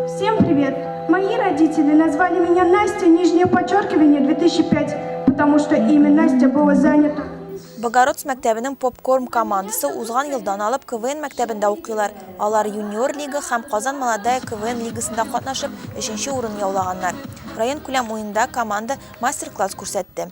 Всем привет! Мои родители назвали меня Настя, нижнее подчеркивание, 2005, потому что имя Настя было занято. Богородск мәктәбенең попкорн командасы узган елдан алып КВН мәктәбендә укыйлар. Алар юниор лига һәм Казан молодая КВН лигасында катнашып, 3 урын яулаганнар. Район күләм уенда команда мастер-класс күрсәтте.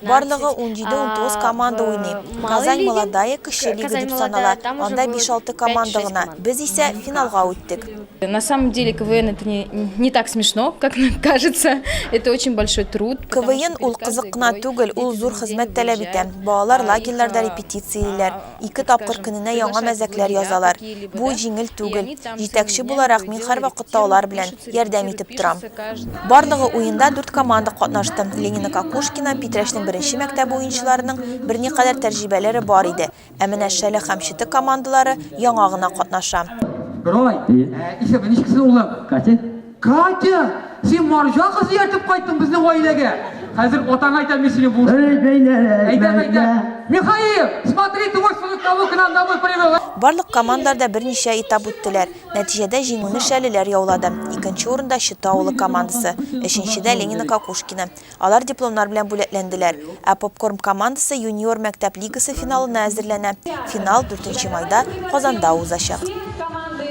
Барлыгы унҗиде-унтугыз команда уйный. Казань Молодая кече лига дип санала, анда биш-алты команда гына. Без исә финалга үттек. На самом деле КВН это не не так смешно, как нам кажется. Это очень большой труд. КВН ул кызык кына түгел, ул зур хезмәт таләп итә. Балалар лагерьларда репетициялиләр, Ике тапкыр көненә яңа мәзәкләр язалар. Бу җиңел түгел. Җитәкче буларак, мин һәрвакытта алар белән, ярдәм итеп торам. Барлыгы уенда дүрт команда катнашты. Ленина Кокушкина, Питрәчнең беренче мәктәбе уенчыларының берникадәр тәрҗибәләре бар иде, ә менә Шәле һәм Четы командалары яңа гына катнаша. Герой, исеме ничек синең улым? Катя. Катя, син марҗа кыз ияртеп кайттың безнең гаиләгә. Хәзер атаң әйтә мин сине бу. Эй, бәйләр, әйтә, әйтә. Михаил, смотри, ты можешь сунуть того, кто нам домой привел. Барлык командалар да берничә этап үттеләр. Нәтиҗәдә җиңүне шәлеләр яулады. Икенче урында, Чыты авылы командасы, өченчедә, Ленино Кокушкино. Алар дипломнар белән бүләкләнделәр. Ә Попкорм командасы юниор мәктәп лигасы финалына әзерләнә. Финал, дүртенче майда, Казанда узачак.